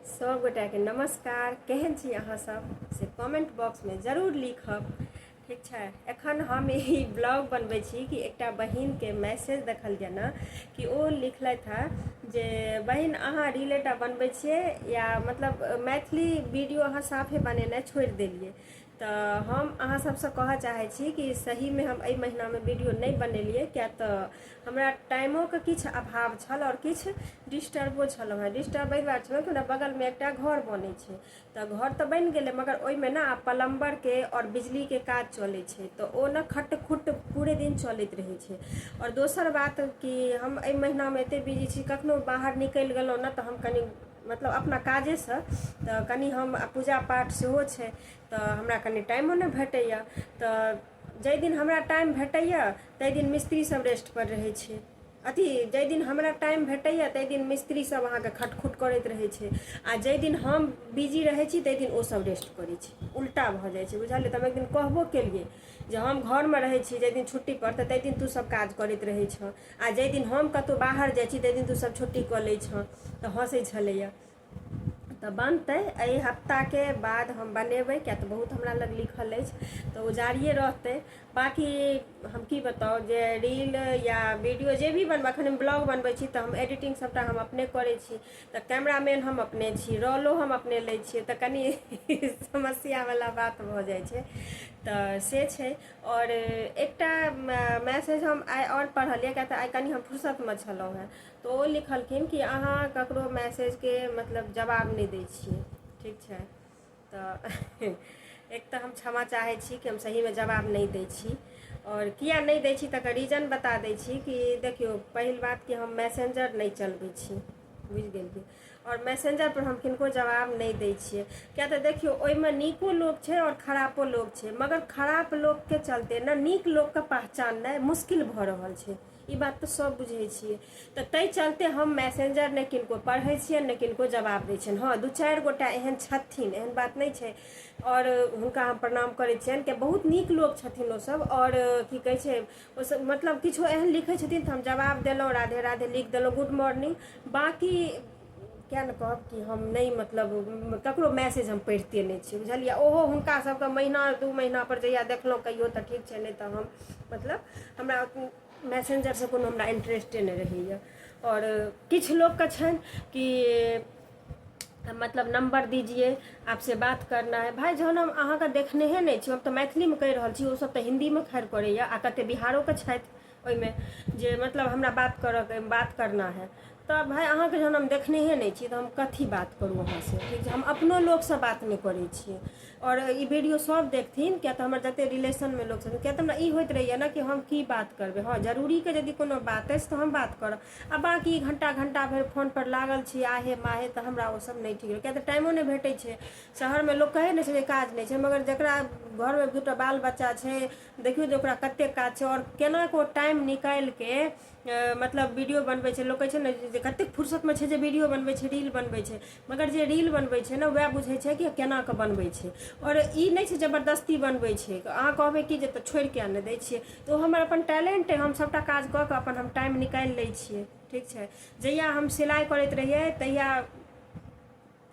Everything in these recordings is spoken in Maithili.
सब गोटा के नमस्कार केहन छी अहाँ सब से कमेंट बॉक्स में जरूर लिखब ठीक छै एखन हम ई ब्लॉग बनबै छी कि एकटा बहिनके मैसेज देखल यए ने कि ओ लिखलथि हँ जे बहिन अहाँ रिलेटा बनबै छियै या मतलब मैथिली वीडियो अहाँ साफे बनेनाइ छोड़ि देलियै तऽ हम अहाँ सबसँ कहऽ चाहै छी कि सहीमे हम एहि महिनामे वीडियो नहि बनेलियै किया तऽ हमरा टाइमोके किछु अभाव छल आओर किछु डिस्टर्बो छलहुँ हेँ डिस्टर्ब एहि दुआरे छलहुँ कि हमरा बगलमे एकटा घर बनै छै तऽ घर तऽ बनि गेलै मगर ओहिमे ने आब प्लम्बरके आओर बिजलीके काज चलै छै तऽ ओ ने खट खुट पूरे दिन चलैत रहै छै आओर दोसर बात कि हम एहि महिनामे एते बिजी छी कखनो बाहर निकलि गेलहुँ ने तऽ हम कनी मतलब अपना काजेसँ तऽ कनि हम आ पूजा पाठ सेहो छै तऽ हमरा कनि टाइमो नहि भेटैए तऽ जाहि दिन हमरा टाइम भेटैए ताहि दिन मिस्त्रीसभ रेस्टपर रहै छै अथी जाहि दिन हमरा टाइम भेटैए ताहि दिन मिस्त्रीसभ अहाँके खटखुट करैत रहै छै आ जाहि दिन हम बिजी रहै छी ताहि दिन ओसभ रेस्ट करै छै उल्टा भऽ जाइ छै बुझलियै तऽ हम एक दिन कहबो केलियै जे हम घरमे रहै छी जाहि दिन छुट्टीपर तऽ ताहि दिन तूँसभ काज करैत रहै छह आ जाहि दिन हम कतहु बाहर जाइ छी ताहि दिन तू सब छुट्टी कऽ लै छँ तऽ हँसै छलैए तऽ बनतै एहि हफ्ताके बाद हम बनेबै किएक तऽ बहुत हमरा लग लिखल अछि तऽ ओ जारिए रहतै बाँकी हम की बताउ जे रील या वीडियो जे भी बनबै एखन हम ब्लॉग बनबै छी तऽ हम एडिटिंग सभटा हम अपने करै छी तऽ कैमरामैन हम अपने छी रोलो हम अपने लै छियै तऽ कनि समस्यावला बात भऽ जाइ छै तऽ से छै आओर एकटा मैसेज हम आइ आओर पढ़लियै किएक तऽ आइ कनी हम फुरसतमे छलहुँ हेँ तऽ ओ लिखलखिन कि अहाँ ककरो मैसेजके मतलब जवाब नहि दै छियै ठीक छै तऽ एक तऽ हम क्षमा चाहै छी कि हम सहीमे जवाब नहि दै छी आओर किए नहि दै छी तकर रीजन बता दै छी कि देखियौ पहिल बात कि हम मैसेंजर नहि चलबै छी बुझि गेलियै आओर मैसेंजर पर हम किनको जवाब नहि दै छियै किया तऽ देखियौ ओहिमे नीको लोक छै आओर खरापो लोक छै मगर खराप लोकके चलते ने नीक लोकके पहचाननाइ मुश्किल भऽ रहल छै ई बात तऽ सब बुझै छियै तऽ ताहि चलते हम मैसेंजर नहि किनको पढ़ै छियै नहि किनको जवाब दै छियनि हँ दू चारि गोटा एहन छथिन एहन बात नहि छै आओर हुनका हम प्रणाम करै छियनि कि बहुत नीक लोक छथिन ओसब आओर की कहै छै ओसभ मतलब किछो एहन लिखै छथिन तऽ हम जवाब देलहुँ राधे राधे लिख देलहुँ गुड मॉर्निंग बाँकी किया ने कहब कि हम नहि मतलब ककरो मैसेज हम पढ़िते नहि छी बुझलियै ओहो हुनका सभके महीना दू महीना पर जहिया देखलहुँ कहियो तऽ ठीक छै नहि तऽ हम मतलब हमरा मैसेंजरसँ कोनो हमरा इंटरेस्टे नहि रहैए आओर किछु लोकके छनि कि तऽ मतलब नम्बर दीजिए आपसे बात करना है भाय जहन हम अहाँके देखनेहे नहि छी हम तऽ मैथिलीमे कहि रहल छी ओसभ तऽ हिन्दीमे खैर करैए आ कतेक बिहारोके छथि ओहिमे जे मतलब हमरा बात करऽके बात करना है तऽ भाय अहाँके जहन हम देखनेहे नहि छी तऽ हम कथी बात करू अहाँसँ ठीक छै हम अपनो लोकसँ बात नहि करै छियै आओर ई वीडियो सभ देखथिन किएक तऽ हमर जतेक रिलेशनमे लोक छथिन किएक तऽ हमरा ई होइत रहैए ने कि हम की बात करबै हँ जरूरीके यदि कोनो बात अछि तऽ हम बात करब आ बाँकी घंटा घंटा भरि फोन पर लागल छी आहे माहे तऽ हमरा ओ सब नहि ठीक किया तऽ टाइमो नहि भेटै छै शहर मे लोक कहै नहि छै जे काज नहि छै मगर जकरा घर मे दूटा बाल बच्चा छै देखियौ जे ओकरा कते काज छै आओर केना कऽ ओ टाइम निकालि के मतलब वीडियो बनबै छै लोक कहै छै ने जे कतेक फुर्सत मे छै जे वीडियो बनबै छै रील बनबै छै मगर जे रील बनबै छै ने वएह बुझै छै कि केना कऽ बनबै छै आओर ई नहि छै जबरदस्ती बनबै छै अहाँ कहबै कि जे तऽ छोड़ि किया नहि दै छियै तऽ ओ हमर अपन टैलेंट अइ हम सभटा काज कऽ कऽ अपन हम टाइम निकालि लै छियै ठीक छै जहिया हम सिलाइ करैत रहियै तहिया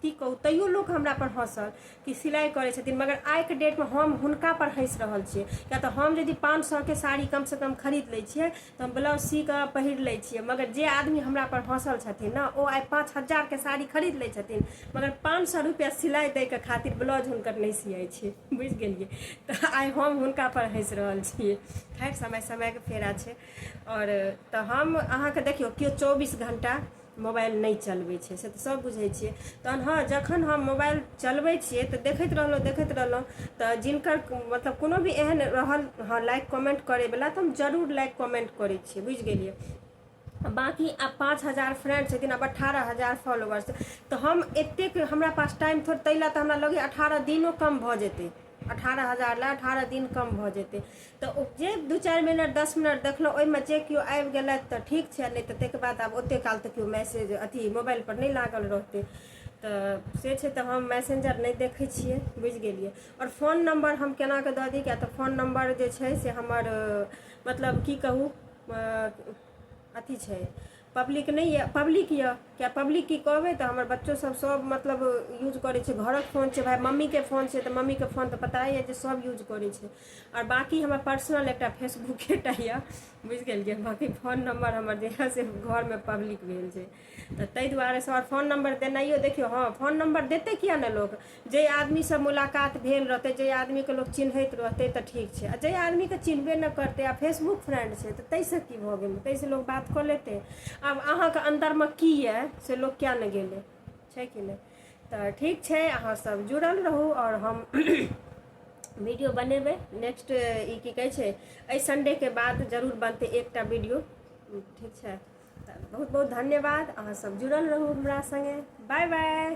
की कहू तैयो लोक हमरा पर हँसल कि सिलाइ करै छथिन मगर आइके डेटमे हम हुनका पर हँसि रहल छियै किया तऽ हम यदि पाँच सए के साड़ी कम से कम खरीद लै छियै तऽ हम ब्लाउज सी कऽ पहिर लै छियै मगर जे आदमी हमरा पर हँसल छथिन ने ओ आइ पाँच हजार के साड़ी खरीद लै छथिन मगर पाँच सए रुपैआ सिलाइ दै के खातिर ब्लाउज हुनकर नहि सियै छै बुझि गेलियै तऽ आइ हम हुनका पर हँसि रहल छियै खैर समय समयके फेरा छै आओर तऽ हम अहाँके देखियौ केओ चौबीस घंटा मोबाइल नहि चलबै छै से तऽ सभ बुझै छियै तहन हँ जखन हम मोबाइल चलबै छियै तऽ देखैत रहलहुँ देखैत रहलहुँ तऽ जिनकर मतलब कोनो भी एहन रहल हँ लाइक कमेन्ट करैवला तऽ हम जरूर लाइक कमेन्ट करै छियै बुझि गेलियै बाँकी आब पाँच हजार फ्रेंड छथिन आब अठारह हजार फॉलोअर्स तऽ हम एतेक हमरा पास टाइम थोड़ ताहि लए तऽ हमरा लगैए अठारह दिनो कम भऽ जेतै अठारह हजार लए अठारह दिन कम भऽ जेतै तऽ ओ जे दू चारि मिनट दस मिनट देखलहुँ ओहिमे जे केओ आबि गेलथि तऽ ठीक छै नहि तऽ ताहिके बाद आब ओतेक काल तऽ केओ मैसेज अथी मोबाइलपर नहि लागल रहतै तऽ से छै तऽ हम मैसेंजर नहि देखै छियै बुझि गेलियै आओर फोन नम्बर हम केनाके दऽ दी किएक तऽ फोन नम्बर जे छै से हमर मतलब की कहू अथी छै पब्लिक नहि यऽ पब्लिक यऽ किया पब्लिक की कहबै तऽ हमर बच्चो सब सब मतलब यूज करै छै घरक फोन छै भाइ मम्मीके फोन छै तऽ मम्मीके फोन तऽ पता यऽ जे सब यूज करै छै आओर बाकी हमर पर्सनल एकटा फेसबुके टा यऽ बुझि गेलियै बाकी फोन नम्बर हमर जे यऽ से घरमे पब्लिक भेल छै तऽ ताहि दुआरे से आओर फोन नम्बर देनाइयो देखियौ हँ फोन नम्बर देतै किया ने लोक जे आदमीसँ मुलाकात भेल रहतै जे आदमीके लोक चिन्हैत रहतै तऽ ठीक छै आ जे आदमीके चिन्हबे नहि करतै आ फेसबुक फ्रेंड छै तऽ ताहिसँ की भऽ गेलै ताहिसँ लोक बात कऽ लेतै आब अहाँके अन्दरमे की यए से लोक किया नहि गेलै छै कि नहि तऽ ठीक छै अहाँ सब जुड़ल रहू आओर हम वीडियो बनेबै नेक्स्ट ई की कहै छै एहि संडेके बाद जरूर बनतै एकटा वीडियो ठीक छै तऽ बहुत बहुत धन्यवाद अहाँसभ जुड़ल रहू हमरा सङ्गे बाय बाय